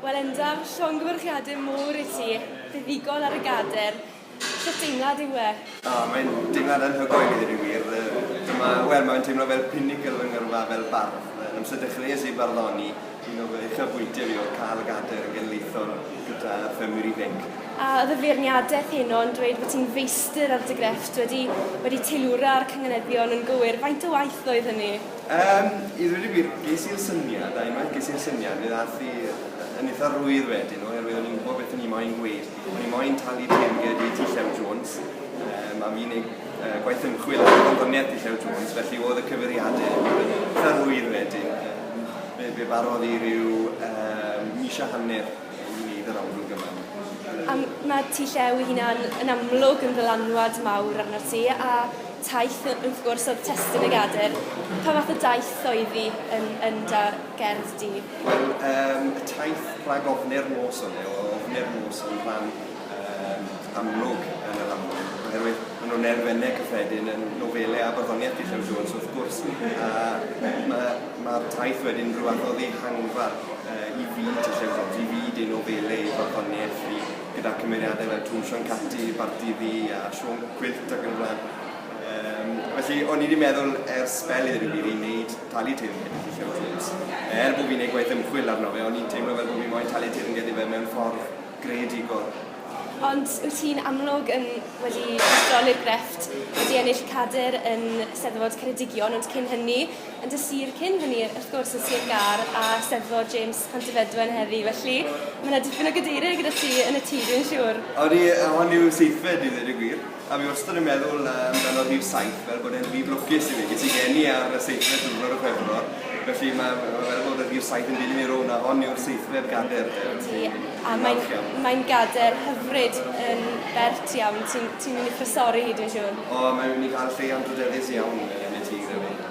Wel Enda, llongyfarchiade mowr i ti, buddugol ar y gader. Sut deimlad yw e? O, mae'n deimlad anhygoel i ddweud y gwir. Dyma, wel, mae'n teimlo fel pinnacle fy ngyrfa fel bardd. Yn amser dechreuais i farddoni, un o fy uchafbwyntiau fi oedd cael gader yn genedlaethol gyda ffermwyr ifainc. A oedd y feirniadaeth heno yn dweud fod ti'n feistr ar dy grefft, wedi wedi teilwra ar cynganeddion yn gywir, faint o waith oedd hynny? Yym, i ddweud y gwir, ges i'r syniad, a unwaith ges i'r syniad, fe ddaeth i yn eitha rwydd wedyn, oherwydd o'n i'n gwybod beth o'n i moyn gweud. O'n i moyn talu teyrnged i T Llew Jones, um, a fi'n ei uh, gwaith ymchwil ar gwyddoniaeth T Llew Jones, felly oedd y cyfeiriadau yn eitha rwydd wedyn. Um, fe, fe barodd i ryw um, mis a hanner i wneud yr amlwg yma. Um, mae T Llew ei hunan yn amlwg yn ddylanwad mawr arno'r ti, a Taith, wrth gwrs, oedd testun y Gadair. Pa fath o daith oedd hi yn, yn da gerdd di? Wel, um, y taith rhag ofni'r nos o'n neu, ofni'r nos yn rhan um, amlwg yn y lamwyn, oherwydd maen nhw'n elfennau cyffredin yn nofelau a barddoniaeth Dillon Jones, wrth gwrs. A mae'r ma taith wedyn rhywbeth o ddihangfa uh, i fyd Dillon Jones, i fyd ei nofelau, ei barddoniaeth, i gyda cymeriadau fel Twm Sian Catti, Barti Fi a Siôn Gwyllt ac yn y blaen. Yym, felly, o'n i wedi meddwl ers sbel i ddweud y gwir i wneud talu teyrnged i Llyfr Ffilms. Er bo fi'n neud gwaith ymchwil arno fe, o'n i'n teimlo fel bo fi moyn talu teyrnged i fe mewn ffordd greadigol. Ond wyt ti'n amlwg yn wedi ysbroli'r grefft, wedi ennill cadr yn Steddfod Ceredigion, ond cyn hynny, yn dy sir cyn hynny wrth gwrs yn Sir Gâr a Steddfod James Pantyfedwen heddi felly mae 'na dipyn o gadeirydd gyda ti yn y tŷ dwi'n siŵr. Odi a hon yw seithfed i ddweud y gwir a fi wastad yn meddwl amdano rhif saith fel bod e'n rhif lwcus i fi, ges i geni ar y seithfed diwrnod o Chwefror felly mae ma' fel bod y rhif saith yn dilyn i rownd a hon yw'r seithfed gader de felly fi'n falch iawn. Ydi a mae'n gader hyfryd yn bert iawn ti'n ti'n mynd i thrysori hi dwi'n siŵr. O mae ni'n cael lle anrhydeddus iawn yn y tŷ gyda fi.